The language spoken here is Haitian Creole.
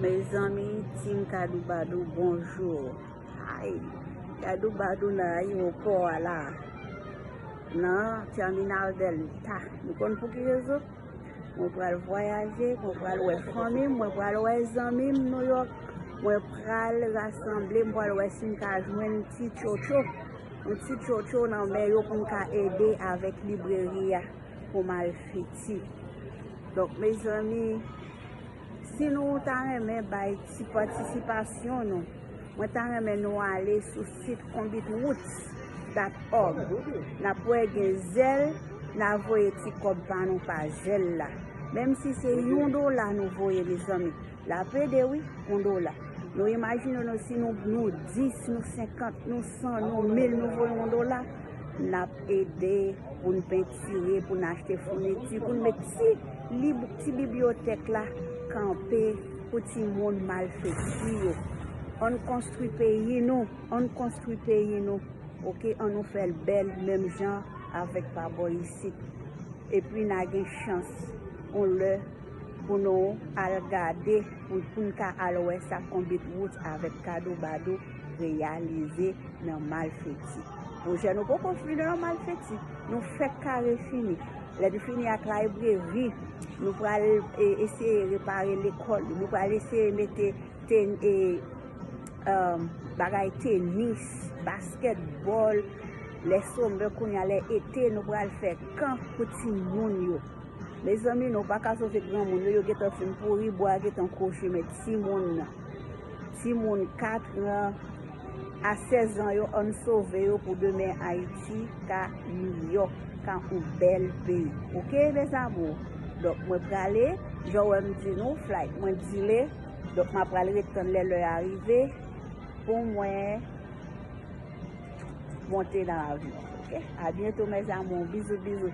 Mezanmi team kadoubadou bonjour ayy kadoubadou nan ayiwopò a la nan terminal delta nou konn pou ki rezon mwen pral vwayaje mwen pral wè fanmi mwen pral wè zanmi m nou yo mwen pral rasanble mwen pral wè si m ka jwenn ti tchotcho yon ti tchotcho nan men yo pou m ka ede avèk libreri a. pou mal fiti donk mezanmi si nou ta renmen bay ti patisipasyon nou mwen ta renmen nou ale sou sit konbit roots dat org nap wè gen zèl na voye ti kòb pa nou pa zèl la menm si se yon dola nou voye mezanmi. La pede wi, on dola. Nou imajine nou si nou 10, nou 50, nou 100, nou 1000 nou voye on dola, n ap ede pou n pentire, pou n achte founiti, pou n met ti lib, ti bibliyotèk la kanpe pou ti moun malfekti yo. An n konstwi peyi nou, an n konstwi peyi nou, ok, an nou fè l bèl menm jan avèk pa bò isit. Epi n a gen chans, on lè. Pou nou al gade pou n ka al wè sa Konbit Roots avèk Kado Bado reyalize nan Malfeti. Pwojè nou poko fini nan Malfeti. Nou fèk kare fini. Lè nou fini ak layibreri, nou pral eseye repare lekòl yo. Nou pral eseye mete bagay tenis, baskèt, bòl. Lè somè kounye a, lè ete, nou pral fè kan pou timoun yo. Mezanmi nou paka sove granmoun yo yo gentan fin pouri bwa gentan krochi men timoun timoun 4 an a 16 ans yo ann sove yo pou demen ayiti ka miyò ka on bèl peyi ok mes amour donk mwen prale janw wèm di nou flight mwen dile donk mwen pral ret tann lè lè a rive pou mwen. Monte nan avyon ok. A bientot mes amours bisous bisous.